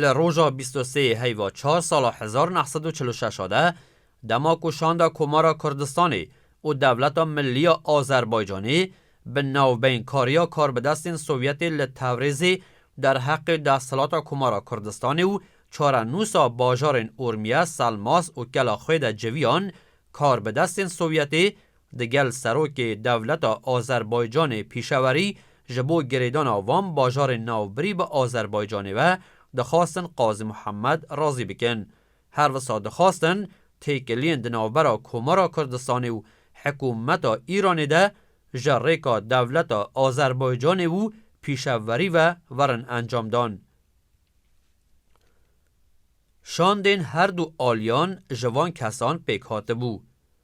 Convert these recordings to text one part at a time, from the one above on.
Li roja bîst û sê yê heyva çar sala hezar neh sed û çil û şeş a de, dema ku Şanda Komara Kurdistanê û Dewleta Millî ya Azerbaycanê bi navbeynkariya karbidestên Sovyetê li Tewrêzê derheqê desthilata Komara Kurdistanê û çarenûsa bajarên Urmiye, Selmas û Kelaxwê de civiyan, karbidestên Sovyetê Digel Serokê Dewleta Azerbaycanê pîşewerî ji bo girêdana van bajarên navbirî bi Azerbaycanê ve dixwastin Qazî Muhammed razî bikin. Her wisa dixwastin têkiliyên di navbera Komara Kurdistanê û hikûmeta Îranê de ji rêka dewleta Azerbaycanê û pîşeverî ve werin encamdan. Şandên her du aliyan ji van kesan pêk hatibû.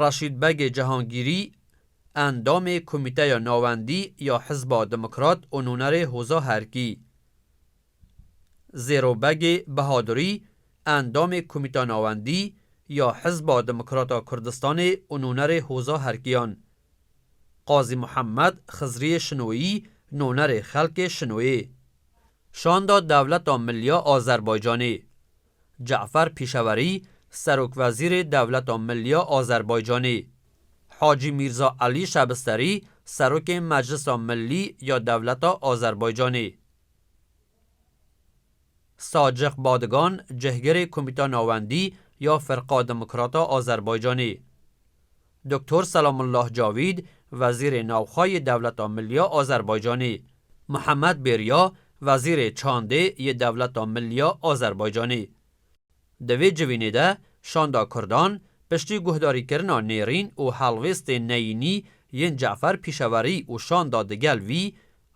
Raşîd Begê Cihangîrî, endamê Komîteya Navendî ya Hizba Demokrat û nûnerê Hoza Herkî, Zêro Begê Bihadirî, endamê Komîta Navendî ya Hizba Demokrata Kurdistanê û nûnerê Hoza Herkiyan, Qazî Muhemed Xizriyê Şinoyî, nûnerê Xelkê Şinoyê, Şanda Dewleta Milya Azerbaycanê, Cafer Pîşewerî, Serokwezîrê Dewleta Milî ya Azerbaycanê, Hacî Mîrza Elî Şebisterî, Serokê Meclisa Milî ya Dewleta Azerbaycanê, Sacix Badigan, Cihgirê Komîta Navendî ya Firqa Demokrata Azerbaycanê, Doktor Selamullah Cavîd, Wezîrê Navxwe yê Dewleta Milliya Azerbaycanê, Muhammed Bêriya, Wezîrê Çandê yê Dewleta Milliya Azerbaycanê. Di vê civînê de Şanda Kurdan piştî guhdarîkirina nêrîn û helwêstên neyînî yên Ce'fer Pîşewerî û şanda digel wî,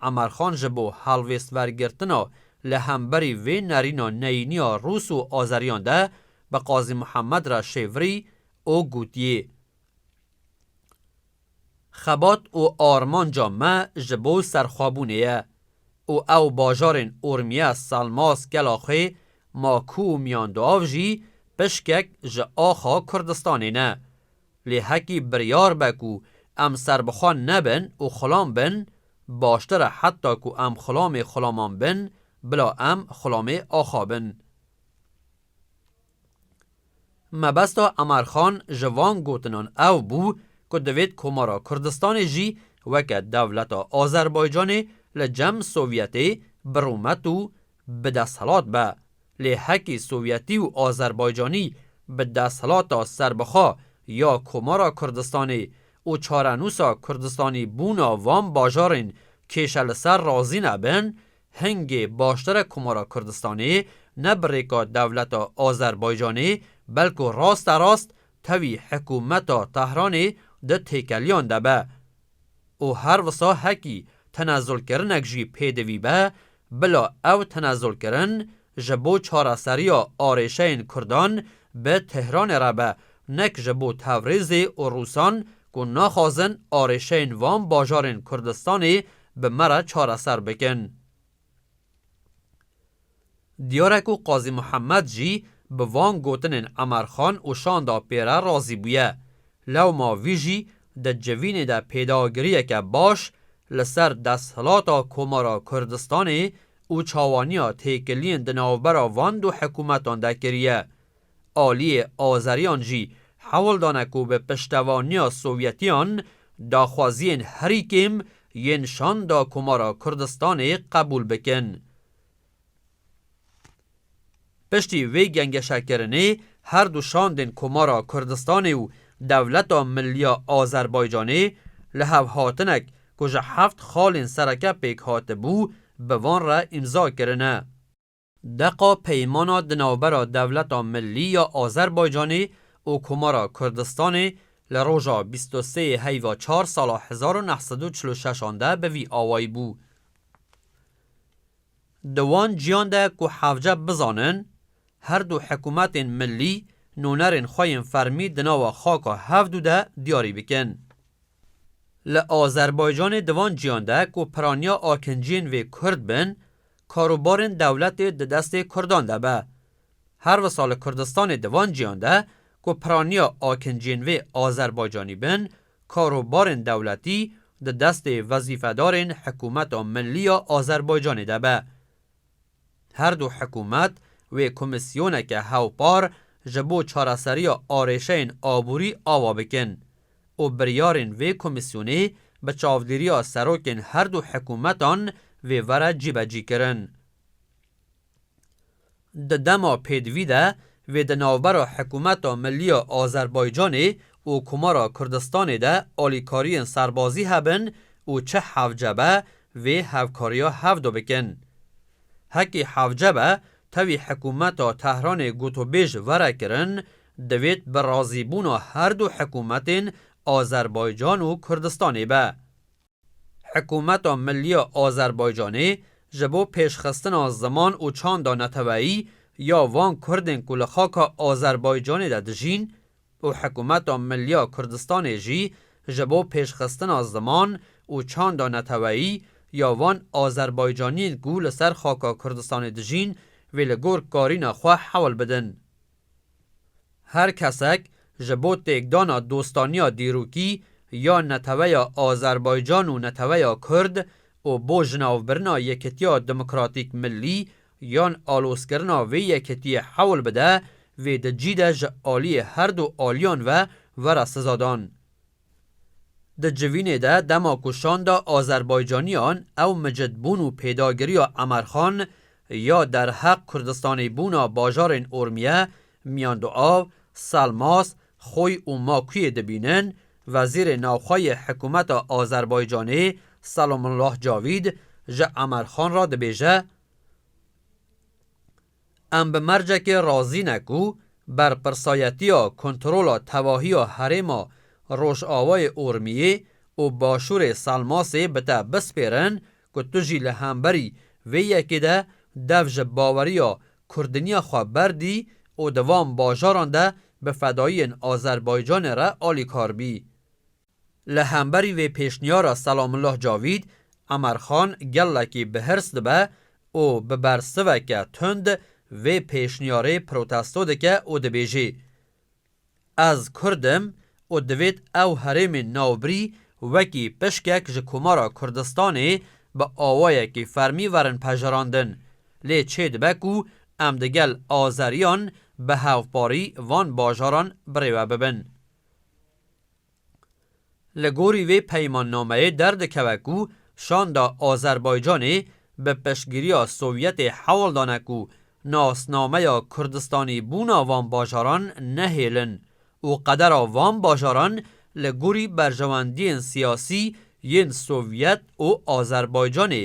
Emerxan ji bo helwêstvergirtina li hemberî vê nerîna neyîniya Rûs û Azeriyan de bi Qazî Muhammed re şêvirî û gotiye, Xebat û armanca me ji bo serxwebûnê ye û ew bajarên Urmiye, Salmaz, Kelaxê, Maku û Miyanduav jî pişkek ji axa Kurdistanê ne. Lê hekî biryar be ku em serbixwe nebin û xulam bin, baştir e heta ku em xulamê xulaman bin bila em xulamê axa bin. Mebesta Emar Xan ji van gotinan ew bû ku divêt Komara Kurdistanê jî weke dewleta Azerbaycanê li cem Sovyetê bi rûmet û bi desthilat be. Lê hekî Sovyetî û Azerbaycanî bi desthilata serbixwe ya Komara Kurdistanê û çarenûsa Kurdistanî bûna van bajarên kêşe li ser razî nebin, Hingê baştera Komara Kurdistanê ne bi rêka dewleta Azerbaycanê belko raste rast tevî hikumeta Tehranê di têkeliyan de be û her wisa hekî tenezulkirinek jî pêdivî be bila ew tenezulkirin Ji bo çareseriya arêşeyên kurdan bi Tehranê re be, nek ji bo Tevrizê û Rûsan ku naxwazin arêşeyên van bajarên Kurdistanê bi me re çareser bikin. Diyare ku Qazî Muhemed jî bi van gotinên Emer Xan û Şanda Pê re razî bûye. Lewma vî jî di civînê de pêdagiriyeke baş li ser desthilata Komara Kurdistanê û çawaniya têkiliyên di navbera van du hikûmetan de kiriye. Aliyê Azeriyan jî hewl dane ku bi piştevaniya Sovyetiyan daxwaziyên herî kêm yên Şanda Komara Kurdistanê qebûl bikin. Piştî vê gengeşekirinê her du şandên Komara Kurdistanê û Dewleta Milliya Azerbaycanê li hev hatinek ku ji heft xalên sereke pêk hatibû bi van re îmza kirine. Deqa peymana di navbera Dewleta Millî ya Azerbaycanê û Komara Kurdistanê li roja bîst û sê yê heyva çar sala hezar û neh sed û çil û şeş an de bi vî awayî bû. Di wan ciyan de ku hevce bizanin her du hikûmetên milî nûnerên xwe yên fermî di nava xaka hev du de diyarî bikin. Li Azerbaycanê di van ciyan de ku piraniya akinciyên vê kurd bin, karûbarên dewletê di destê kurdan de be. Her wisa li Kurdistanê di van ciyan de ku piraniya akinciyên vê Azerbaycanî bin, Karobarên dewletî di destê wezîfedarên Hikûmeta Milî ya Azerbaycanê de be. Her du hikûmet wê komîsyoneke hewpar ji bo çareseriya arêşeyên aborî ava bikin û biryarên vê komîsyonê bi çavdêriya serokên her du hikûmetan vê were cîbecîkirin. Di dema pêdivî de wê di navbera Hikûmeta Milî ya Azerbaycanê û Komara Kurdistanê de alîkariyên serbazî hebin û çi hevce be vê hevkariya hevdo bikin. Hekî hevce be tevî hikûmeta Tehranê gotûbêj were kirin, divêt bi razîbûna herdu hikûmetên Azerbaycan û Kurdistanê be. Hikûmeta Millî ya Azerbaycanê ji bo pêşxistina ziman û çanda neteweyî ya van Kurdên ku li xaka Azerbaycanê de dijîn û Hikûmeta Millî ya Kurdistanê jî ji bo pêşxistina ziman û çanda neteweyî ya van Azerbaycaniyên ku li ser xaka Kurdistanê dijîn vê li gor karîna xwe hewl bidin. Her kesek ji bo têkdana dostaniya dîrokî ya neteweya Azerbaycan û neteweya Kurd û bo jinavbirina Yekitiya Demokratîk Millî yan alozkirina vê yekitiyê hewl bide, vê di cî de ji aliyê herdu aliyan ve were sizadan. Di civînê de dema ku şanda Azerbaycaniyan ew micid bûn û pêdagiriya Emerxan ya derheq Kurdistanê bûna bajarên Urmiye, Miyanduav, Selmas, Xoy û Makuyê dibînin, Wezîrê Navxwe yê Hikûmeta Azerbaycanê Selomullah Cavîd ji Emerxan re dibêje, Em bi mercekê razî ne ku berpirsayetiya kontrola tevahiya herêma Rojavayê Urmiyê û Başûrê Selmasê bi te bispêrin ku tu jî li hemberî vê yekê de dev ji baweriya kurdiniya xwe berdî û di van bajaran de bi fedayiyên Azerbaycanê re alîkar bî. Li hemberî vê pêşniyara Selamullah Cavîd, Emer Xan gelekî bi hirs dibe û bi bersiveke tund vê pêşniyarê protesto dike û dibêjê, Ez kurd im û divêt ew herêmên navbirî wekî pişkek ji Komara Kurdistanê bi awayekî fermî werin pejerandin, lê çê dibe ku em digel azeriyan bi hevparî van bajaran birêve bibin. Li gorî vê peymannameyê derdikeve ku şanda Azerbaycanê bi piştgiriya Sovyetê hewl dane ku nasnameya Kurdistanîbûna van bajaran nehêlin û qedera van bajaran li gorî berjewendiyên siyasî yên Sovyet û Azerbaycanê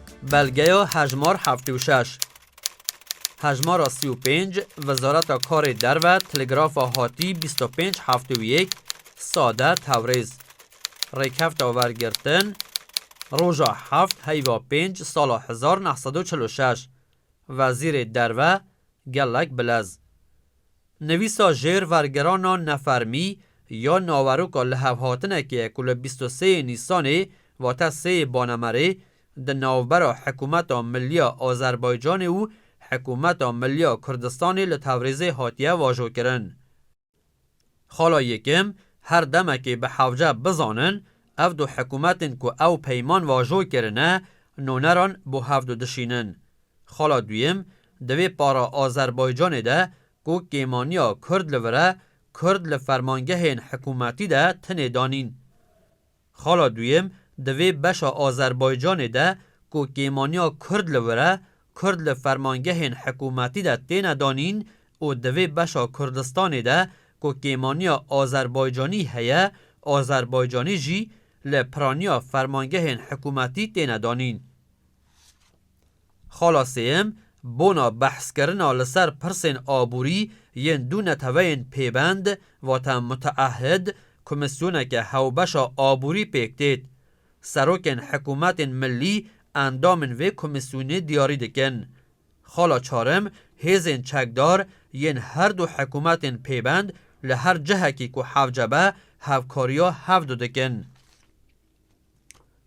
Belgeya hejmar heftê û şeş. Hejmara sî û pênc, Wezareta Karê Derve Teligrafa Hatî bîst û pênc heftê û yek sade Tewrêz Rêkefta wergirtin Roja heft heyva pênc sala hezar neh sed û çil û şeş Wezîrê Derve gelek bilez Nivîsa jêr vergerana nefermî ya naweroka lihevhatinekê ku li bîst û sê yê Nîsanê vate sê yê Banemerê di navbera Hikûmeta Milliya Azerbaycanê û Hikûmeta Milliya Kurdistanê li Tewrîzê hatiye vajokirin. Xala Yekim, Her demekê bi hewce bizanin, ev du hikûmetên ku ew peyman vajo kirine, noneran bo hev du dişînin. Xala duyem, di vê para Azerbaycanê de ku kêmaniya Kurd li vir e, Kurd li fermangehên hikûmetî de tine danîn. Xala duyem, di vê beşa Azerbaycanê de ku kêmaniya Kurd li vir e, Kurd li fermangehên hikûmetî de têne danîn û di vê beşa Kurdistanê de ku kêmaniya Azerbaycanî heye, Azerbaycanî jî li piraniya fermangehên hikûmetî têne danîn. Xala sêyem, Bona behskirina li ser pirsên aborî yên du neteweyên pêbend, vate muteahid, komîsyoneke hewbeşa aborî pêk têt. Serokên hikûmetên millî endamên vê komîsyonê diyarî dikin. Xala çarim, Hêzên çekdar yên her du hikûmetên pêbend li her cihekî ku hevce be hevkariya hevdu dikin.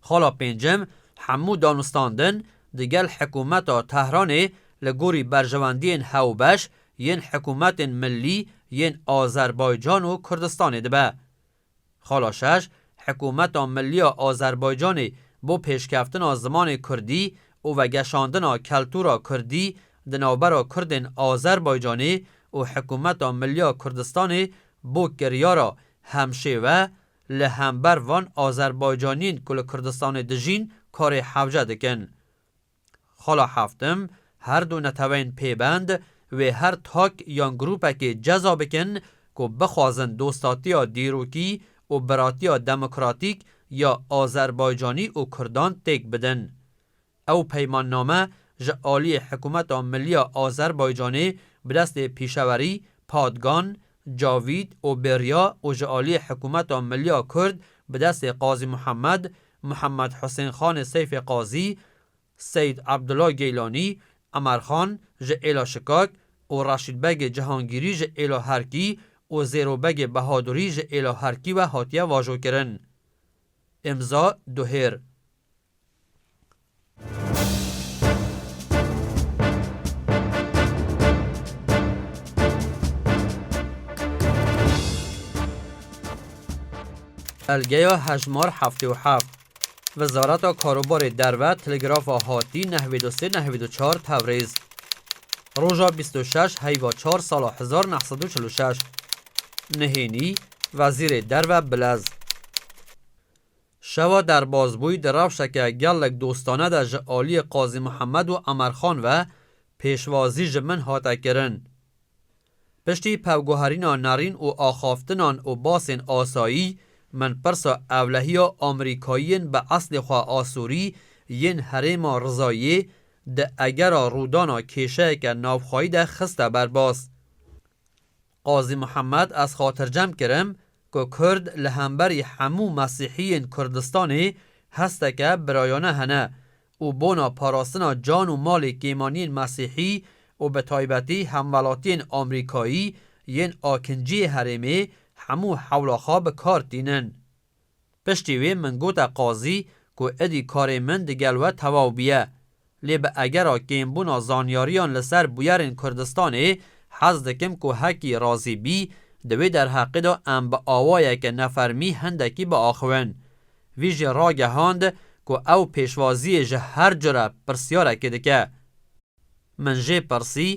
Xala pêncem, hemû danûstandin di gel hikûmeta Tehranê li gorî berjewendiyên hewbeş yên hikûmetên millî yên Azerbaycan û Kurdistanê dibe. Xala şeş, hikûmeta millî ya Azerbaycanê bo pêşkeftina zimanê kurdî û vegeşandina keltûra kurdî di navbera kurdên Azerbaycanê û hikûmeta millî ya Kurdistanê bo kiriyara hemşêwe Li hember van Azerbaycaniyên ku li Kurdistanê dijîn karê hewce dikin. Xala Heftim, Her du neteweyên pêbend wê her tak yan grûpekê ceza bikin ku bixwazin dostatiya dîrokî û biratiya demokratîk ya Azerbaycanî û Kurdan têk bidin. Ew peymanname ji aliyê Hikûmeta Millî ya Azerbaycanê bi destê pîşewerî Padgan, Cavît û Bêrya û ji aliyê Hikûmeta Millî ya Kurd bi destê Qazî Muhemed, Muhemed Husên Xanê Seyfê Qazî, Seyîd Abdullah Geylanî, Emer Xan ji Êla Şikak û Reşîd Begê Cihangîrî ji Êla Herkî û Zêro Begê Behadurî ji Êla Herkî ve hatiye vajokirin. Îmza Duhêr. Belgeya hejmar heftê û heft. Wezareta Karobarê Derve Telegrafa Hatî nehwê do sê nehwê do çar Tewrêz roja bîst û şeş heyva çar sala hezar neh sed û çil û şeş Nihênî Wezîrê Derve Bilez şewa derbazbûyî di rewşeke gelek dostane de ji aliyê Qazî Mihemed û Emerxan ve pêşwazî ji min hate kirin. Piştî pevguherîna nerîn û axaftinan û basên asayî min pirsa ewlehiya Amerîkayiyên bi eslê xwe Asurî yên herêma Rizayê di egera rûdana kêşeyeke navxweyî de xiste ber bas. Qazî Muhammed ez xatircem kirim ku Kurd li hemberî hemû Mesîhiyên Kurdistanê hesteke birayane hene û bona parastina can û malê kêmaniyên Mesîhî û bi taybetî hemwelatiyên Amrîkayî yên Akinciyê herêmê hemû hewla xwe bi kar tînin. Piştî wê min gote qazî ku êdî karê min digel we tewaw bûye. Lê bi egera kêmbûna zanyariyan li ser bûyerên Kurdistanê hez dikim ku hekî razî bî, di wê derheqê de em bi awayeke nefermî hindekî biaxivin. Vî jî ragehand ku ew pêşwaziyê ji her cure pirsyarekê dike. Min jê pirsî,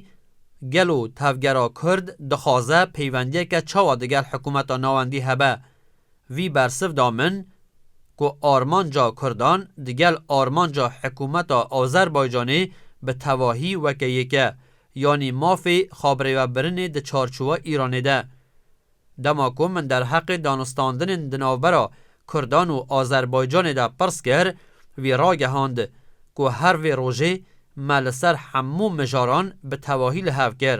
Gelo tevgera Kurd dixwaze peywendiyeke çawa diger hikumeta navendî hebe? Vî bersiv da min ku armanca Kurdan digel armanca hikumeta Azerbaycanê bi tevahî weke yek e, yanî mafê xabirêvebirinê di çarçowa Îranê de. Dema ku min derheqê danûstandinên di navbera Kurdan û Azerbaycanê de pirs kir, wî ragehand ku her vê rojê me li ser hemû mijaran bi tevahî li hev kir.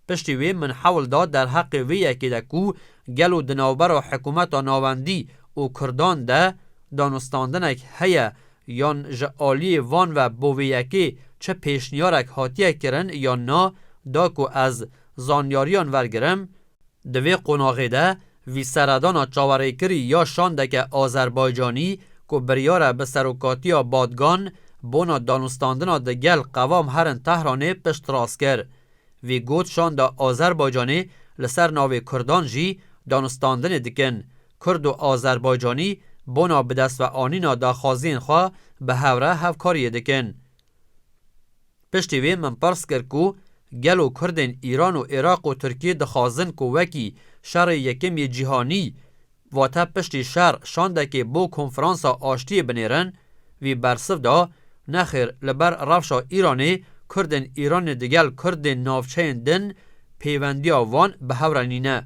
Piştî wê min hewl da derheqê wê yekê de ku gelo di navbera hikûmeta navendî û Kurdan de danûstandinek heye yan ji aliyê van ve bo vê yekê çi pêşniyarek hatiye kirin yan na da ku ez Zanyariyan vergirim, Di vê qonaxê de vî seredana çawerêkirî ya şandeke Azerbaycanî ku biryare bi serokatiya Badgan bona danûstandina di gel qevam herin Tehranê piştrast kir. Vî got şanda Azerbaycanê li ser navê Kurdan jî danûstandinê dikin, Kurd û Azerbaycanî bona bidestveanîna daxwaziyên xwe bi hevre hevkariyê dikin. Piştî vê min pirs kir ku gelo kurdên Îran û Iraq û Tirkiyê dixwazin ku wekî Şerê Yekem yê Cîhanî vate piştî şer şandekê bo konferansa aştiyê binêrin, vî bersiv da, Nexêr li ber rewşa Îranê kurdên Îranê digel kurdên navçeyên din pêwendiya wan bi hev re nîne.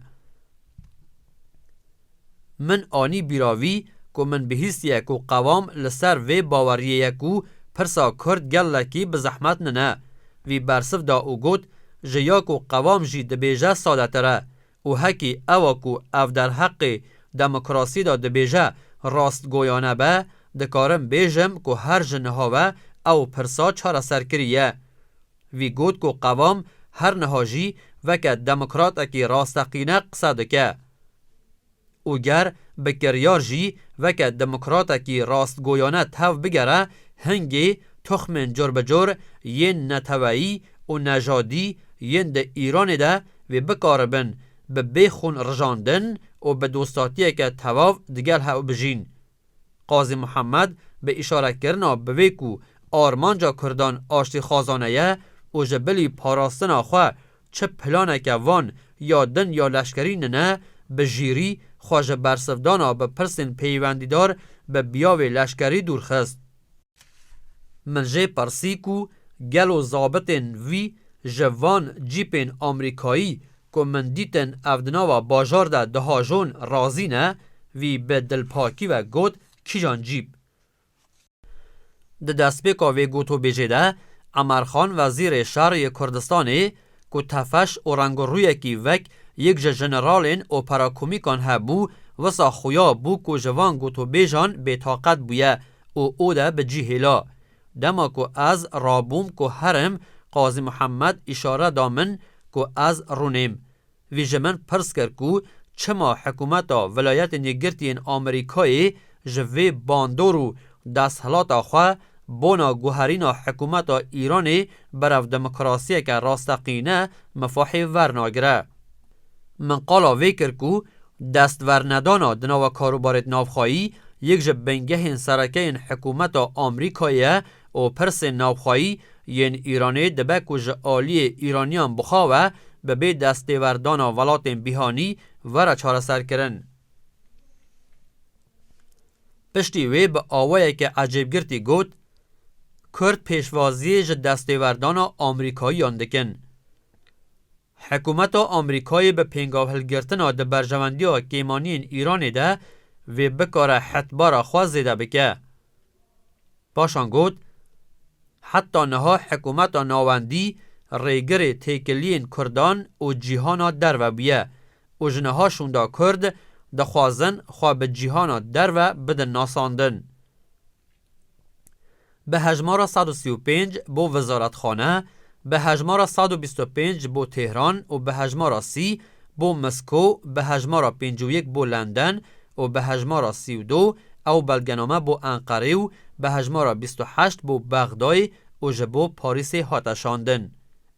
Min anî bîra vî ku min bihîstiye ku qevam li ser vê baweriyê ye ku pirsa kurd gelekî bi zehmet nine. Vî bersiv da û got, Ji ya ku qevam jî dibêje sadetir e. Û hekî ewa ku ev derheqê demokrasiyê de dibêje rastgoyane be, dikarim bêjim ku her ji niha ve ew pirsa çareser kiriye. Wî got ku qevam her niha jî weke demokratekî rasteqîne qise dike û ger bi kiryar jî weke demokratekî rastgoyane tev bigere hingê toxmên corbicor yên neteweyî û nejadî yên di Îranê de wê bikaribin bi bêxûn rijandin û bi dostatiyeke tevav digel hev bijîn. Qazî Muhammed bi îşare kirina bi vê ku armanca kurdan aştîxwazane ye û ji bilî parastina xwe çi planeke van ya din ya leşkerî nine, bi jîrî xwe ji bersivdana bi pirsên peywendîdar bi biyavê leşkerî dûr xist. Min jê pirsî ku gelo zabitên wî ji van cîpên Amrîkayî ku min dîtin ev di nava bajar de dihajon razî ne, wî bi dilpakî ve got kîjan cîp? Di destpêka vê gotûbêjê de Emer Xan Wezîrê Şer yê Kurdistanê ku tefeş û rengûrûyekî wek yek ji jeneralên operakomîkan hebû, wisa xuya bû ku ji van gotûbêjan bêtaqet bûye û ode bi cî hêla. Dema ku ez rabûm ku herim, Qazî Muhemmed îşare da min ku ez rûnêm. Vî ji min pirs kir ku çima hikûmeta Vilayetên Yekgirtiyên Amerîkayê ji vê bandor û desthilata xwe bona guherîna hikûmeta Îranê berev demokrasiyeke rasteqîne mifahê vernagire. Min qala vê kir ku destvernedana di nava karûbarê di navxweyî yek ji bingehên sereke yên hikûmeta Amrîkayê ye û pirsên navxweyî yên Îranê dibe ku ji aliyê Îraniyan bixawe bi bê destêwerdana welatên bîhanî were çareserkirin. Piştî wê bi awayeke ecêbgirtî got, Kurd pêşwaziyê ji destêwerdana Amrîkayiyan dikin. Hikûmeta Amerîkayê bi pêngavhilgirtina di berjewendiya kêmaniyên Îranê de vê bikare hetbara xwe zêde bike. Paşan got, Heta niha hikûmeta navendî rêgirê têkiliyên kurdan û cîhana derve bûye û ji niha şûnda kurd dixwazin xwe bi cîhana derve bidin nasandin. bi hejmara sed û sî û pênc bo Wezarathane, bi hejmara sed û bîst û pênc bo Tehran û bi hejmara sî bo Mesko, bi hejmara pêncî û yek bo Lenden û bi hejmara sî û du ew belgename bo Enqerê û bi hejmara bîst û heşt bo Bexdayê û ji bo Parîsê hate şandin.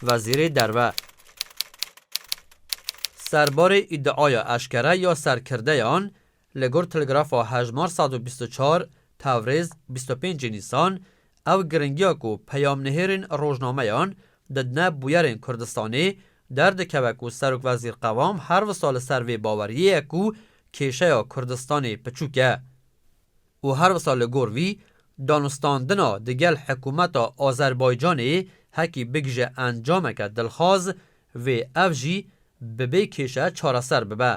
Wezîrê Derve serbarê îdiaya eşkere ya serkirdeyan li gor Telegrafa Hejmar sed û bîst û çar, Tewrêz, bîst û pênc Nîsan, Ew giringiya ku peyamnihêrên rojnameyan didine bûyerên Kurdistanê, derdikeve ku serokwezîr Qewam her wisa li ser vê baweriyê ye ku kêşeya Kurdistanê piçûk e. û her wisa li gor vî danûstandina di gel hikumeta Azerbaycanê hekî bigije encameke dilxwaz vê ev jî bi bê kêşe çareser bibe.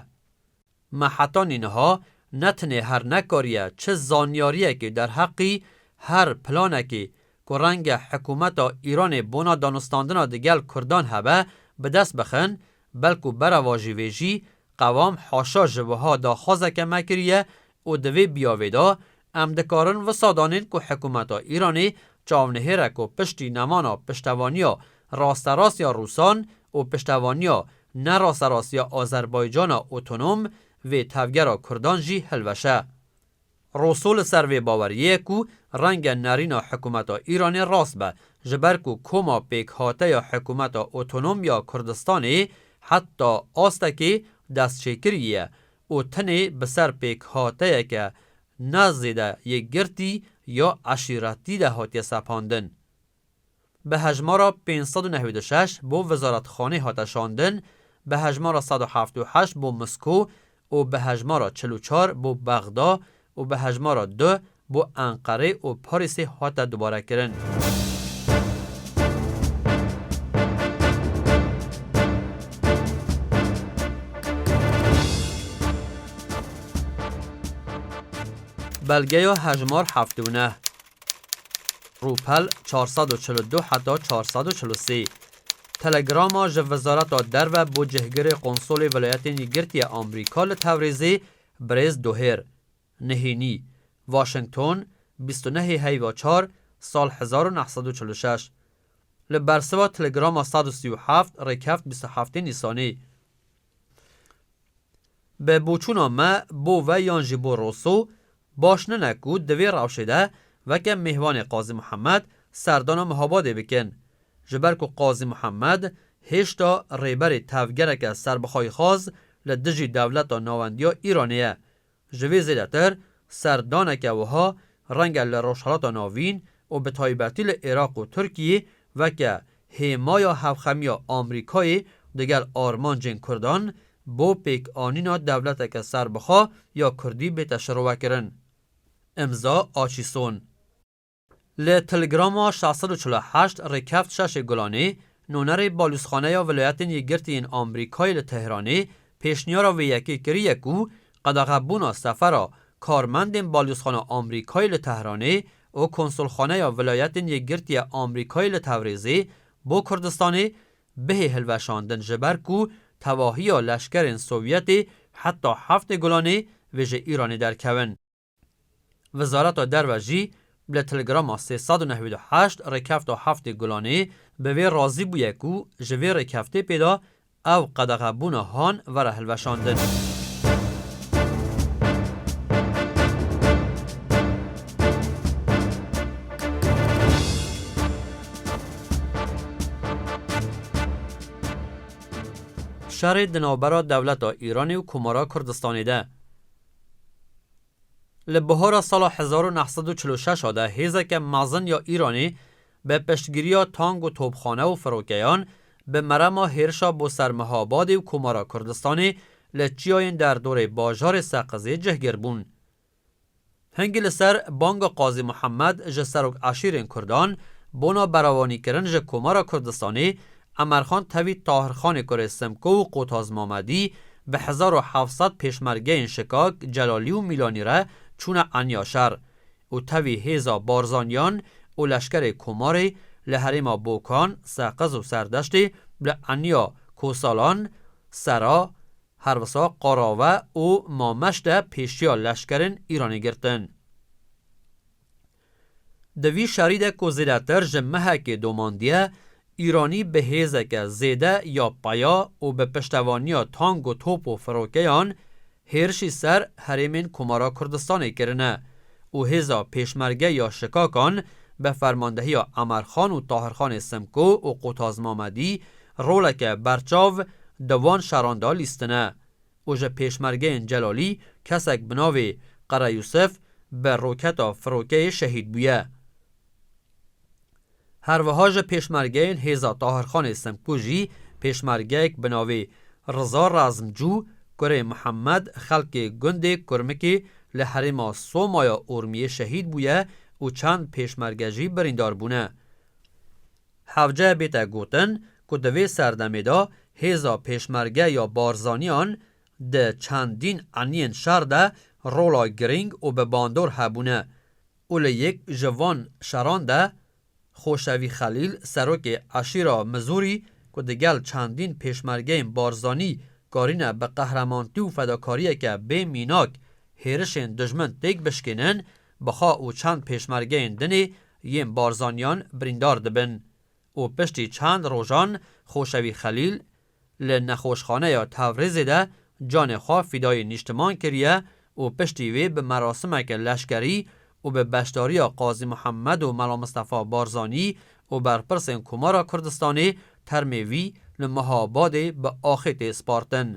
Me heta nîniha ne tinê her nekariye çi zanyariyekê derheqî her planekê ku renge hikumeta Îranê bona danûstandina di gel kurdan hebe bi dest bixin belku berevajî vê jî qewam haşa ji wiha daxwazeke me kiriye Û di vê biyavê de em dikarin wisa danên ku hikûmeta Îranê çavnihêre ku piştî nemana piştevaniya rasterast ya Rûsan û piştevaniya ne rasterast ya Azerbaycana otonom vê tevgera Kurdan jî hilweşe. Rosso li ser vê baweriyê ye ku renge nerîna hikûmeta Îranê rast be ji ber ku koma pêkhate ya hikûmeta otonom ya Kurdistanê heta astekê destçêkirî ye û tenê bi ser pêkhateyeke ne zêde yekgirtî ya eşîretî de hatiye sepandin. Bi hejmara pênc sed û newî du şeş bo Wizaretxanê hate şandin, bi hejmara sed û heft û heşt bo Misko û bi hejmara çil û çar bo Bexda û bi hejmara du bo Enqerê û Parîsê hate dubarekirin. Belgeya hejmar heft û neh. Rûpel çar sed û çil û du heta çar sed û çil û sê. Telegrama ji Wizareta Derve bo cihgirê Qonsolê Vilayetên Yekgirtiya Amerîka li Tewrêzê Birêz Doher Nihênî, Washington, bîst û nehê heyva çar, sal hezar û neh sed û çil û şeş Li bersiva Telegrama sed û sî û heft rêkeft bîst û heftê Nîsanê Bi boçûna me bo ve yan jî bo Rosso baş nine ku di vê rewşê de weke mêhvanê Qazî Mihemed serdana Mihabadê bikin. Ji ber ku Qazî Muhemed hêşta rêberê tevgereke serbixwayixwaz li dijî dewleta nawendiya Îranê ye. Ji vê zêdetir serdaneke wiha renge li Rojhilata Navîn û bi taybetî li Iraq û Tirkiyê weke hêmaya hevxemiya Amrîkayê digel armancên Kurdan bo pêkanîna dewleteke serbixwe ya Kurdî bête şirovekirin. Imza Açîson. Li Tilgrama şeş sed û çil û heşt Rêkeft Şaşê Gulanê, nonerê Balûzxaneya Vilayetên Yekgirtiyên Amerîkayê li Tehranê pêşniyara vê yekê kiriye ku qedexebûna sefera karmendên Balûzxana Amerîkayê li Tehranê û Konsulxaneya Vilayetên Yekgirtiye Amerîkayê li Tewrêzê bo Kurdistanê bihê hilweşandin ji ber ku tevahiya leşkerên Sovyetê heta Heftê Gulanê vê ji Îranê derkevin. Wizareta Derve jî li Telegrama sê sed û newîd û heşt rêkefta heftê gulanê bi vê razî bûye ku ji vê rêkefte pê de ew qedexebûna han were hilweşandin. Şerê di navbera dewleta Îranê û Komara Kurdistanê de, Li bihara sala hezar û neh sed û çil û şeş de hêzeke mezin ya Îranê bi piştgiriya tank û topxane û firokeyan bi merema hêrişa bo ser Mihabadê û Komara Kurdistanê li çiyayên derdorê bajarê Seqizê cihgir bûn. Hingî li ser banga Qazî Muhemed ji serok eşîrên Kurdan bona berawanîkirin ji Komara Kurdistanê Emerxan tevî Tahirxanê Kurê Simko û Qotaz Mamedî bi hezar û heft sed pêşmergeyên Şikak, Celalî û Mîlanî re çûne Enya şer û tevî hêza Barzanîyan û leşkerê Komarê li herêma Bokan, Seqiz û Serdeştê li Enya, Kosalan, Sera, Hervisa, Qarave û Mameş de pêşiya leşkerên Îranê girtin. Di vî şerî de ku zêdetir ji mehekê domandiye, Îranî bi hêzeke zêde ya peya û bi piştevaniya tank û top û firokeyan hêrişî ser herêmên Komara Kurdistanê kirine û hêza Pêşmerge ya Şikakan bi fermandehiya Emerxan û Tahirxanê Simko û Qutaz Mamedî roleke berçav di van şeran de lîstine. û ji pêşmergeyên Celalî kesek bi navê Qere Yûsif bi roketa firokeyê şehîd bûye. Her wiha ji pêşmergeyên Hêza Tahirxanê Simkû jî pêşmergeyek bi navê Riza Razmcû, kurê Mihemed, xelkê gundê Kurmikê li herêma Soma ya Urmiyê şehîd bûye û çend pêşmerge jî birîndar bûne. Hevce bête gotin ku di vê serdemê de hêza Pêşmerge ya Barzaniyan di çendîn eniyên şer de rola girîng û bi bandor hebûne û li yek ji van şeran de Xoşevî Xelîl serokê eşîra Mizûrî ku di gel çendîn pêşmergeyên Barzanî karîne bi qehremanti û fedakariyeke bê mînak hêrişên dijmin têk bişkênin Bixa û çend pêşmergeyên dinê yên Barzaniyan birîndar dibin û piştî çend rojan Xoşewî Xelîl li nexweşxaneya Tevrizê de canê xwe fîdayê nîştiman kiriye û piştî wê bi merasimeke leşkerî û bi beşdariya Qazî Muhammed û Mela Mistefa Barzanî û berpirsên Komara Kurdistanê termê wî li Mehabadê bi axê tê spartin.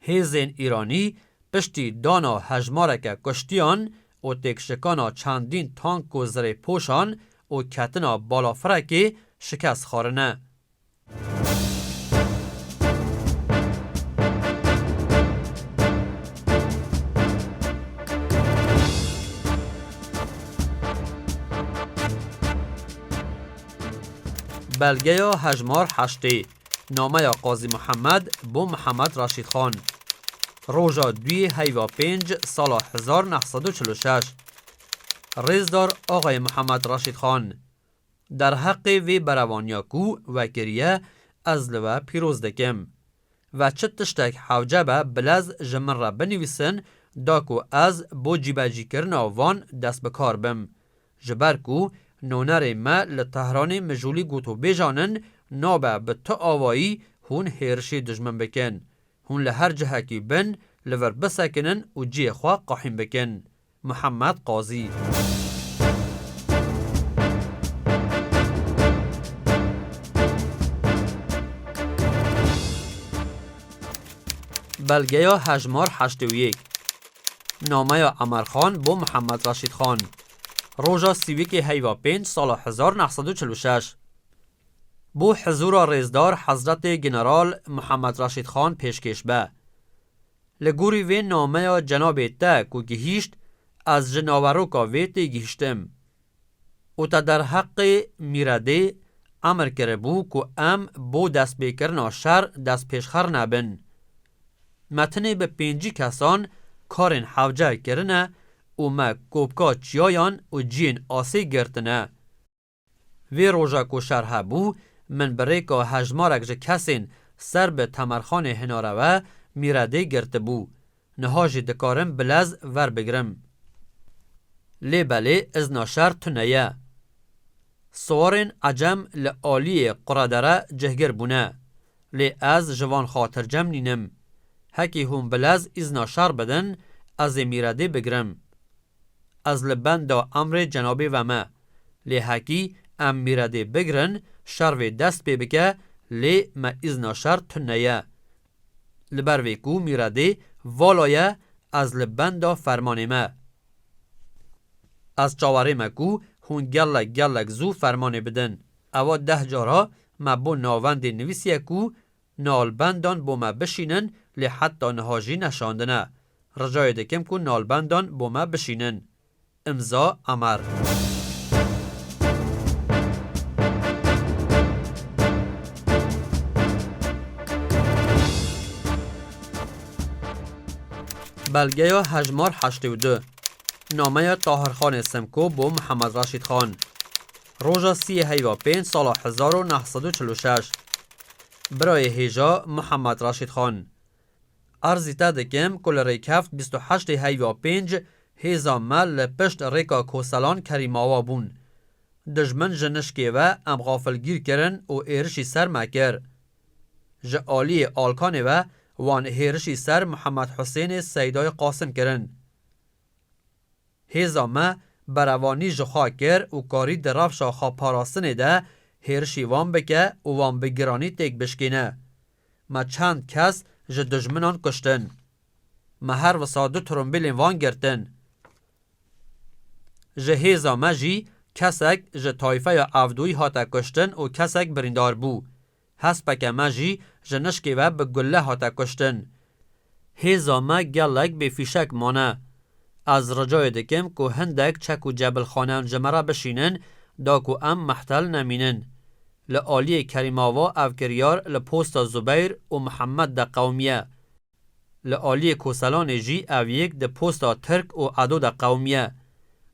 Hêzên Îranî piştî dana hejmareke kuştiyan û têkşikana çendîn tank û zirêpoşan û ketina balafirekê şikest xwarine. Belgeya hejmar heştê. Nameya Qazî Mihemed bo Mihemed Raşîd Xan. Roja duyê heyva pênc sala hezar neh sed û çil û şeş. Rêzdar Axayê Mihemed Raşîd Xan. Derheqê vê berevaniya ku we kiriye ez li we pîroz dikim. Ve çi tiştek hewce be bilez ji min re binivîsin da ku ez bo cîbecîkirina van dest bi kar bim. Ji ber ku nonerê me li Tehranê mijûlî gotûbêjan in, nabe bi tu awayî hûn hêrişê dijmin bikin. Hûn li her cihekî bin, li vir bisekinin û cihê xwe qehîn bikin. Muhammed Qazî. Belgeya hejmar heştê û yek. Nameya Emerxan bo Muhammed Reşîdxan. Roja Sîwîkê heyva pênc sala hezar neh sed û çil û şeş bo hizûra rêzdar Hezretê General Muhammed Reşîd Xan pêşkêş be. Li gorî vê nameya cenabê te ku gihîşt ez ji naveroka vê tê gihîştim û te derheqê Mîredê emr kiribû ku em bo destpêkirina şer destpêşxer nebin. Me tenê bi pêncî kesan karên hewce kirine û me kopka çiyayan û ciyên asê girtine. Vê roja ku şer hebû, min bi rêka hejmarek ji kesên ser bi Temerxanê Hinarewe mîredê girtibû. Niha jî dikarim bi lez verbigirim. Lê belê izna şer tune ye. Siwarên ecem li aliyê Quredere cihgir bûne. Lê ez ji van xatircem nînim. Hekî hûn bi lez îzna şer bidin, ez ê Mîredê bigirim. Ez li benda emrê cenabê ve me. Lê hekî em Mîredê bigirin, şer vê dest pê bike, lê me îzna şer tune ye. Li ber vê ku Mîredê vala ye, ez li benda fermanê me. Ez çawerê me ku hûn gelek gelek zû fermanê bidin. Ewa deh cara Me bo navendê nivîsiye ku nalbendan bo me bişînin lê heta niha jî neşandine. Ricayê dikim ku nalbendan bo me bişînin. Îmza Emer. Belgeya hejmar heştê û du. Nameya Tahirxanê Simko bo Mihemed Reşîd Xan. Roja sî yê heyva pênc sala hezar û neh sed û çil û şeş birayê hêja Muhammed Raşîd Xan Erzî te dikim ku li rêkeft bîst û heşt ê heyva pênc hêza me li pişt rêka Koselan Kerîmawa bûn. Dijmin ji nişkê ve em xafilgîr kirin û êrişî ser me kir. Ji aliyê Alkanê ve wan hêrişî ser Muhammed Husênê Seydayê Qasim kirin. Hêza me berevanî ji xwe kir û karî di rewşa xwe parastinê de hêrişî wan bike û wan bi giranî têk bişkîne. Me çend kes ji dijminan kuştin. Me her wisa du trombîlên wan girtin. Ji hêza me jî kesek ji tayfeya Evdoyî hate kuştin û kesek birîndar bû. Hespeke me jî ji nişkê ve bi gule hate kuştin. Hêza me gelek bê fîşek mane. Ez ricayê dikim ku hindek çek û cebilxaneyan ji me re bişînin da ku em mehtel nemînin. Li aliyê Kerîmava ev kiryar li posta Zubeyr û Mihemed de qewimiye. Li aliyê Koselanê jî ev yek di posta Tirk û Edo de qewimiye.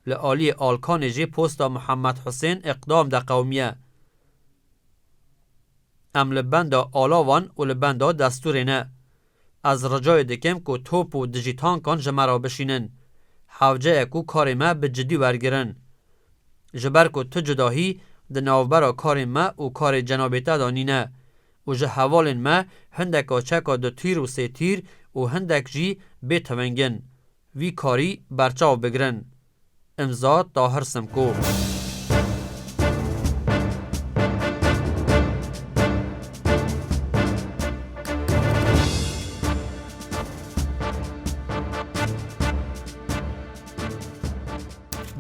Li aliyê Alkanê jî posta Muhammed Husên Îqdam de qewimiye. Em li benda alavan û li benda destûrê ne. Ez ricayê dikim ku top û dijî tankan ji me re bişînin. Hewce ye ku karê me bi cidî wergirin. Ji ber ku tu cudahî di navbera karên me û karê cenabê te de nîne. û ji hevalên me hindeka çeka du tîr û sê tîr û hindek jî bê teveng in. Vî karî berçav bigirin. Îmza Tahir Simko.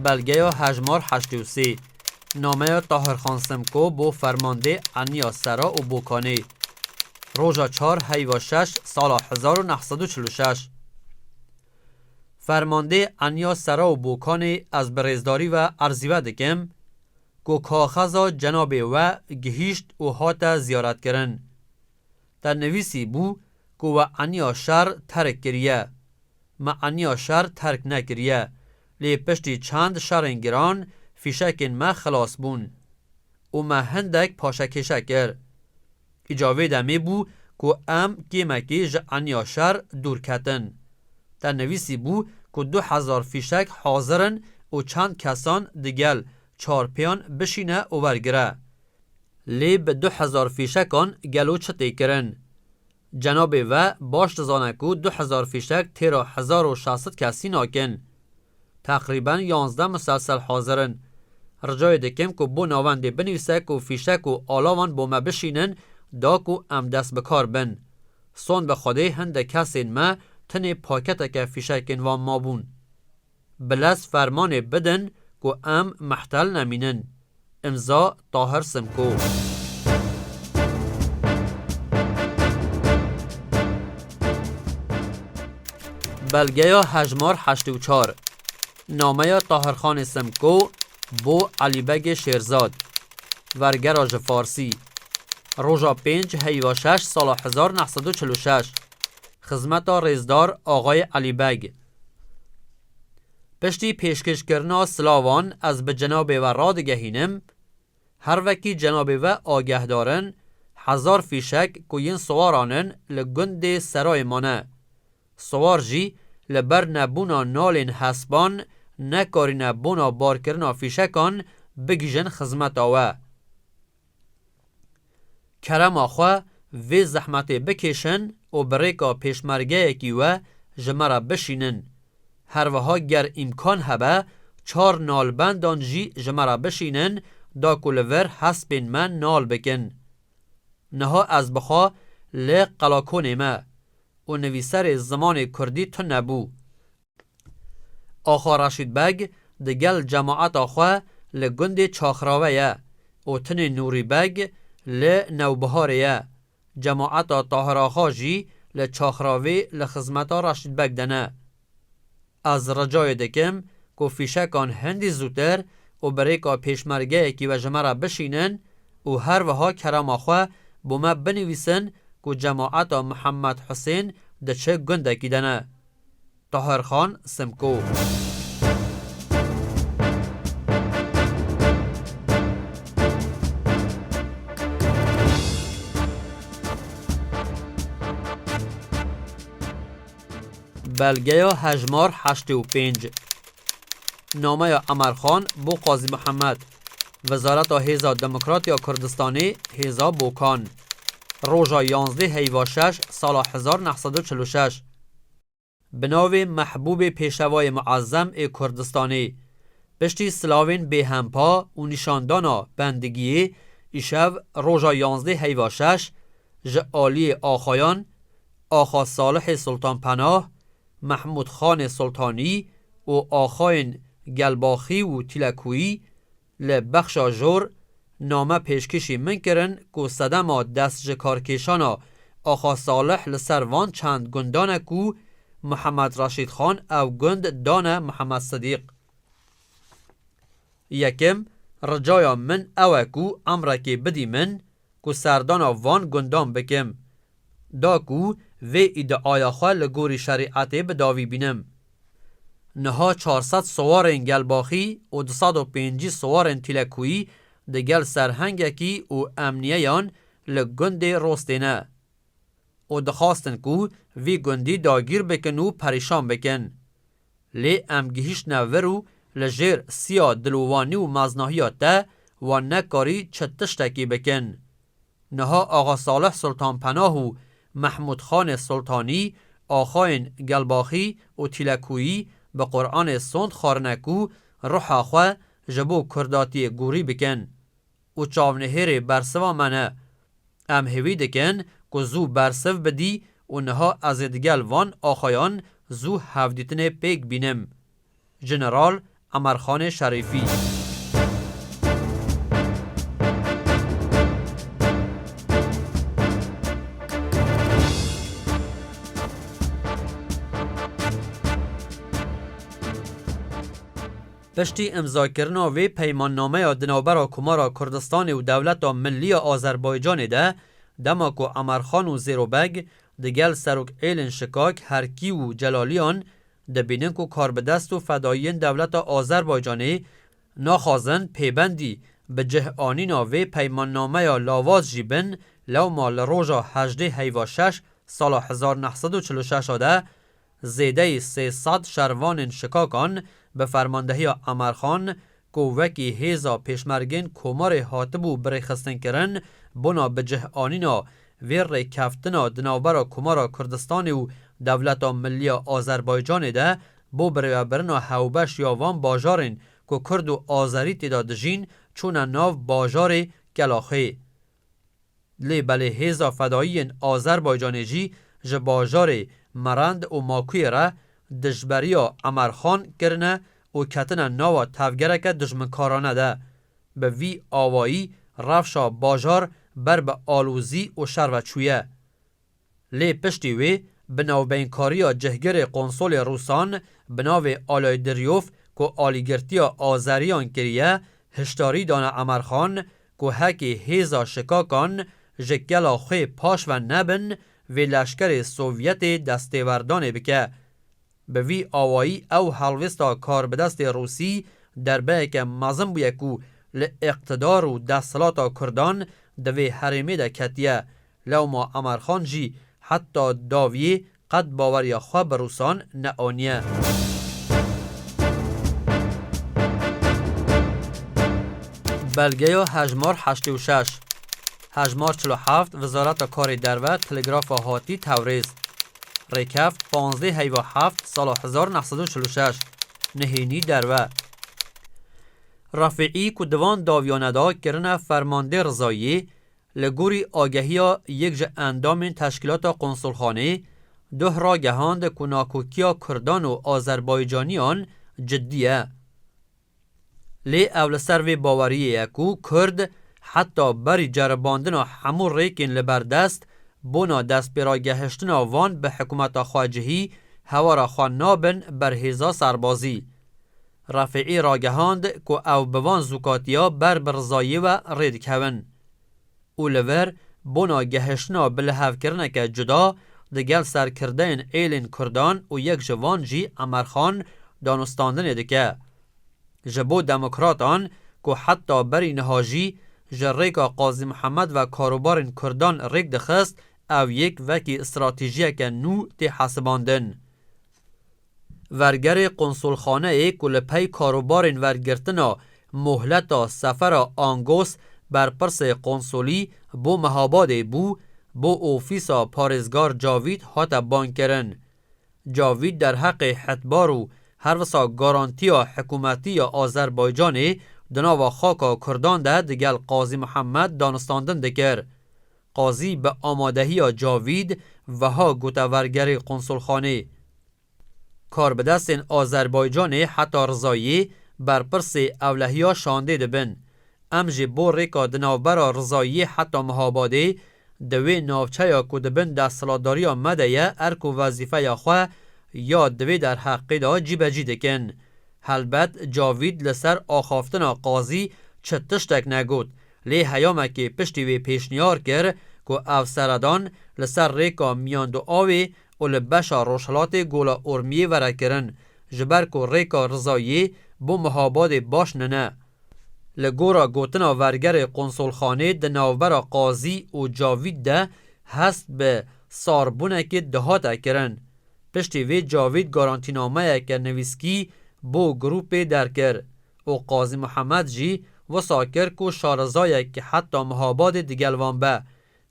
Belgeya hejmar heştê û sê. Nameya Tahirxan Simko bo fermandê eniya sera û Bokanê. Roja çar heyva şeş sala hezar û neh sed û çil û şeş. Fermandê eniya sera û Bokanê ez bi rêzdarî ve erzî we dikim ku kaxeza cenabê we gihîşt û hate ziyaretkirin. Te nivîsî bû ku we eniya şer terk kiriye. Me eniya şer terk nekiriye Lê piştî çend şerên giran fîşekên me xilas bûn û me hindek paşekêşe kir. Îca vê demê bû ku em kêmekê ji eniya şer dûr ketin. Te nivîsî bû ku du hezar fîşek hazir in û çend kesan digel çar pêyan bişîne û wergire. Lê bi du hezar fîşekan gelo çi tê kirin? Cenabê we baş dizane ku du hezar fîşek têra hezar û şeş sed kesî nakin. Teqrîben yanzdeh muselsel hazir in. Ricayê dikim ku bo navendê binivîse ku fîşek û alavan bo me bişînin da ku em dest bi kar bin. Sond bi Xwedê hindek kesên me tenê paketeke fîşekên wan mabûn. Bi lez fermanê bidin ku em mehtel nemînin. Imza, Tahir Simko. Belgeya hejmar heştê û çar. Nameya Tahirxanê Simko bo Elîbegê Şêrzad. Vergera ji Farsî. Roja pênc heyva şeş sala hezar neh sed û çil û şeş. Xizmeta Rêzdar Axayê Elîbeg. Piştî pêşkêşkirina silavan ez bi cenabê we radigehînim, her wekî cenabê we agehdar in, hezar fîşek ku yên siwaran in li gundê Serayê ma ne. Siwar jî li ber nebûna nalên hespan nekarîne bona barkirina fîşekan bigihîjin xizmeta we. Kerema xwe vê zehmetê bikêşin û bi rêka pêşmergeyekî we ji me re bişînin. Her wiha ger îmkan hebe çar nalbendan jî ji me re bişînin da ku li vir hespên me nal bikin. Niha ez bixa li qelakonê me û nivîserê zimanê kurdî tune bû. Axa Reşîd Beg di gel cemaeta xwe li gundê Çaxrave ye û tinê Nûrî Beg li Newbiharê ye. Cemaeta Tahir Axa jî li Çaxravê li xizmeta Reşîd Beg de ne. Ez ricayê dikim ku fîşekan hindî zûtir û bi rêka pêşmergeyekî ve ji me re bişînin û her wiha kerama xwe bo me binivîsin ku cemaeta Mihemed Husên di çi gundekî de ne. Taherxan Simko. Belgeya hejmar heştê û pênc. Nameya Emer Xan bo Qazî Mihemed. Wizareta Hêza Demokrat ya Kurdistanê, Hêza Bokan. Roja yanzdê heyva şeş sala hezar neh sed û çil û şeş. Bi navê Mehbûbê Pêşevayê Muezzem ê Kurdistanê, piştî silavên bêhempa û nîşandana bendigiyê îşev roja yanzdeh heyva şeş ji aliyê axayan Axa Salihê Sultanpenah, Mehmûdxanê Sultanî û axayên Gelbaxî û Tîlekûyî Li Bexşa Jor name pêşkişî min kirin ku sedema destjikarkêşana Axa Salih li ser van çend gundan e ku Muhammed Reşîd Xan ew gund dane Muhammed Sidîq. Yekem, ricaya min ew e ku emrekê bidî min ku serdana van gundan bikim da ku vê îdiaya xwe li gorî şerîetê bi dawî bînim. Niha çar sed siwarên gelbaxî û du sed û pêncî siwarên tîlekuyî di gel serhengekî û emniyeyan li gundê Rostê ne û dixwastin ku vî gundî dagîr bikin û perîşan bikin. Lê em gihîştine vir û li jêr siya dilûvanî û maznahiya te wan nekarî çi tiştekî bikin. Niha Axa Salih Sultanpenah û Mehmûd Xanê Sultanî, axayên Gelbaxî û Tîlekûyî bi Quranê sond xwarine ku ruha xwe ji bo kurdatiyê gorî bikin. û çavnihêrê bersiva me ne. Em hêvî dikin ku zû bersiv bidî û niha ez ê digel van axayan zû hevdîtinê pêk bînim. Jeneral Emerxanê Şerîfî. Piştî îmzakirina vê peymannameya di navbera Komara Kurdistanê û Dewleta Millî ya Azerbaycanê de, dema ku Emerxan û Zêro Beg di gel Serok Êlin Şikak, Herkî û Celaliyan dibînin ku karbidest û fedayiyên dewleta Azerbaycanê naxwazin pêbendî bi cih anîna vê peymannameya lawaz jî bin, lewma li roja hejdê heyva şeş sala hezar neh sed û çil û şeş a de Zêdeyî sê sed şervanên Şikakan bi fermandehiya Emer Xan ku wekî hêza pêşmergên Komarê hatibû birêxistinkirin, bona bicihanîna vê rêkeftina di navbera Komara Kurdistanê û Dewleta Millî ya Azerbaycanê de bo birêvebirina hewbeş ya van bajarên ku Kurd û Azerî têda dijîn, çûne nav bajarê Kelaxê. Lê belê hêza fedayiyên Azerbaycanê jî ji bajarê Merend û Makuyê re dijberiya Emerxan kirine û ketine nawa tevgereke dijminkarane de. Bi vî awayî rewşa bajar ber bi alozî û şer ve çûye. Lê piştî wê bi navbeynkariya cihgirê qonsolê Rûsan bi navê Alay Diryov ku alîgirtiya Azeriyan kiriye, hişdarî dane Emerxan ku hekî hêza şikakan ji kela xwê paşve nebin vê leşkerê Sovyetê destêwerdanê bike. Bi vî awayî ew helwêsta karbidestê Rûsî derbeyeke mezin bûye ku li îqtidar û desthilata Kurdan di vê herêmê de ketiye. Lewma Emerxan jî heta davyê qet baweriya xwe bi Rûsan neaniye. Belgeya hejmar heştê û şeş. Hejmar çil û heft Wizareta Karê Derve Telegrafa Hatî Tewrêz. Rêkev panzdeh heyva heft sala hezar neh sed û çil û şeş nihênî derve. Refîî ku di van dawiyane de kirine fermandê rizayî, li gorî agehiya yek ji endamên teşkîlata konsulxanê, duh ragehand ku nakokiya kurdan û azerbaycaniyan cidî ye. Lê ew li ser vê baweriyê ye ku Kurd heta berî ceribandina hemû rêkên li ber dest, bona destpêragehiştina van bi hikumeta xwe cihî hewara xwe nabin ber hêza serbazî. Refîî ragehand ku ew bi van zûkatiya ber bi rizayê we rê dikevin. û li vir bona gehiştina bilihevkirineke cuda digel serkirdeyên êlên kurdan û yek ji van jî Emer Xan danûstandinê dike. Ji bo demokratan ku heta berî niha jî ji rêka Qazî Mihemed ve karobarên kurdan rêk dixist ev yek vekî stratejiyeke nû tê hesibandin. Vergerê qonsolxaneyê ku li pey karobarên wergirtina mohleta sefera Angos berpirsê qonsolî bo Mehabadê bû, bo ofîsa parêzgar Cavît hate bankirin. Cavît derheqê hetbar û her wisa garantiya hikûmetî ya Azerbaycanê di nava xaka kurdan de digel Qazî Mihemed danistandin dikir. Qazî bi amadehiya Cavîd wiha gotevergerê Qonsulxanê Karbidestên Azerbaycanê heta Rizayê berpirsê ewlehiya şandê dibin. Em jî bo rêka di navbera Rizayê heta Mihabadê di wê navçeya ku di bin desthilatdariya me de ye erk û wezîfeya xwe ya di vê derheqê de cîbecî dikin. Helbet Cavîd li ser axaftina Qazî çi tiştek negot Lê heyamekê piştî wê pêşniyar kir ku ev seredan li ser rêka miyan du awê û li beşa rojhilatê Gola Urmiyê vere kirin, ji ber ku rêka Rizayiyê bo Mihabadê baş nine. Li gora gotina vergerê qonsolxanê di navbera Qazî û Cavît de hest bi sarbûnekê dihate kirin. Piştî vê Cavît garantînameyeke nivîskî bo grûpê derkir û Qazî Muhemed jî wisa kir ku şarezayek heta Mihabadê digel wan be.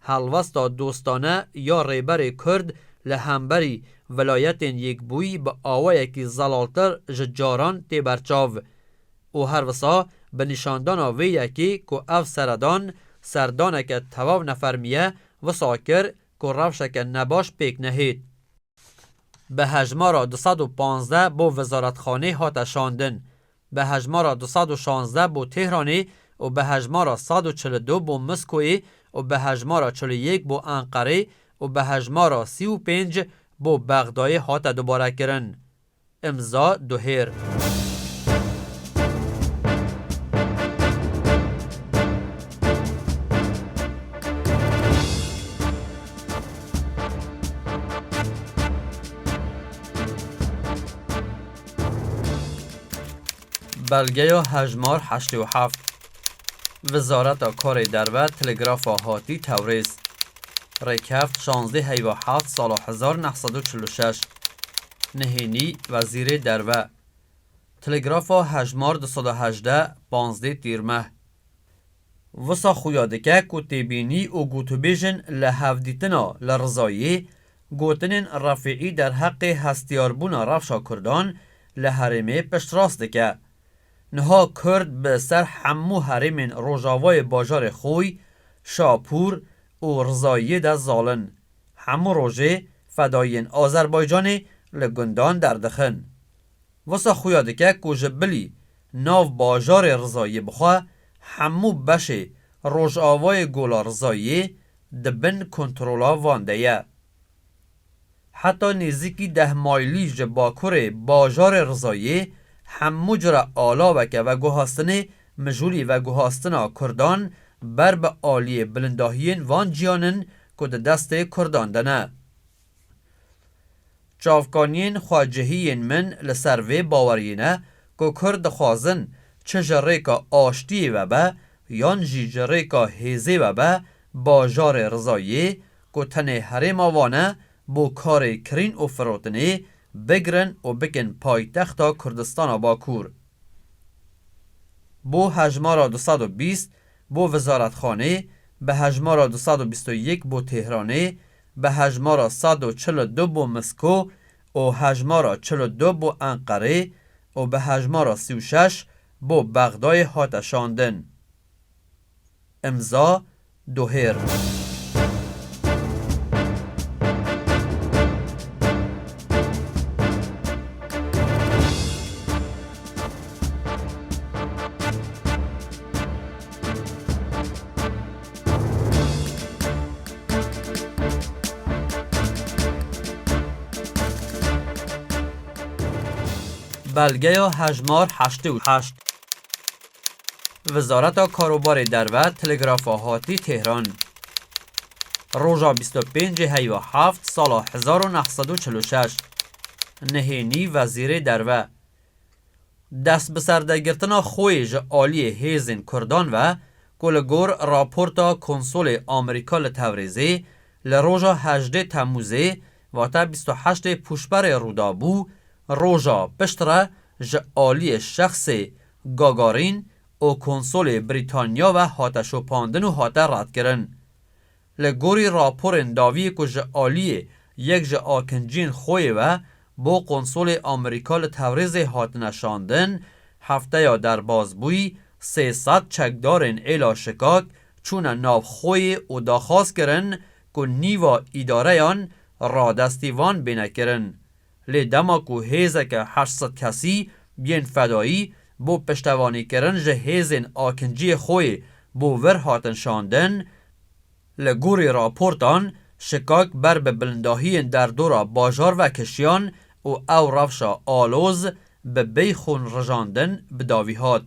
Helwesta dostane ya Rêberê Kurd li hemberî Vilayetên Yekbûyî bi awayekî zelaltir ji caran tê berçav û her wisa bi nîşandana vê yekê ku ev seredan serdaneke tewaw nefermî ye wisa kir ku rewşeke nebaş pêk nehêt. Bi hejmara du sed û panzdeh bo Wizaretxanê hate şandin, bi hejmara du sed û şanzdeh bo Tehranê û bi hejmara sed û çil û du bo Miskoyê û bi hejmara çil û yek bo Enqerê û bi hejmara sî û pênc bo Bexdayê hate dubarekirin. Imza Duhêr. Belgeya hejmar heştê û heft. Wizareta Karê Derve Telegrafa hatî Tewrêz. Rêkeft şazdê heyva heft sala hezar neh sed û çil û şeş. Nihênî Wezîrê Derve. Telegrafa hejmar du sed û hejdeh, panzdê Tîrmeh. Wisa xuya dike ku têbînî û gotûbêjin li hevdîtina li rizayê gotinên Refîî derheqê hestiyarbûna rewşa Kurdan li herêmê piştrast dike. Niha Kurd bi ser hemû herêmên rojavayê bajarê Xoy, Şapûr û Rizayiyê de zalin. Hemû rojê fedayiyên Azerbaycanê li gundan derdixin. Wisa xuya dike ku ji bilî nav bajarê Rizayiyê bixwe hemû beşê rojavayê Gola Rizayiyê di bin kontrola van de ye. Heta nêzîkî deh maylî ji bakurê bajarê Rizayiyê hemû cure alaweke veguhastinê mijûlî veguhastina Kurdan ber bi aliyê bilindahiyên van ciyan in ku di destê Kurdan de ne. Çavkaniyên xwecihî yên min li ser vê baweriyê ne ku Kurd dixwazin çi ji rêka aştiyê ve be yan jî ji rêka hêzê ve be bajarê Rizayê ku tenê herêma Van e bo karê kirîn û firotinê bigirin û bikin paytexta Kurdistana Bakur bo hejmara du sed û bîst bo Wizaretxanê bi hejmara du sed û bîst û yek bo Têhranê Bi hejmara sed û çil û du bo Misko û hejmara çil û du bo Enqerê û bi hejmara sî û şeş bo Bexdayê hate şandin. Îmza, Dohêr. Belgeya hejmar heştê û heşt. Wizareta Karobarê Derve Telegrafa Hatî Tehran Roja bîst û pêncê heywa heft sala hezar û neh sed û çil û şeş Nihênî Wezîrê Derve Destbiserdegrtina xwe ji aliyê hêzên Kurdan ve ku li gor raporta konsolê Amerîka li Tewrêzê li roja hejdê Temûzê vate bîst û heştê Pûşberê rûdabû, roja piştre ji aliyê şexsê Gagarin û konsolê Brîtanya ve hate şopandin û hate redkirin. Li gorî raporên dawiyê ku ji aliyê yek ji akinciyên Xoyê ve bo konsolê Amerîka li Tewrêzê hatine şandin, hefteya derbas bûyî sê sed çekdarên êla şikak çûne nav Xoyê û daxwaz kirin ku nîva îdareyan radestî van bîne kirin. lê dema ku hêzeke heşt sed kesî yên fedayî bo piştevanîkirin ji hêzên akinciyê xwê bo vir hatin şandin, li gorî raportan şikak ber bi bilindahiyên derdora bajar ve kişiyan û ew rewşa aloz bi bêyxûn rijandin bi davî hat.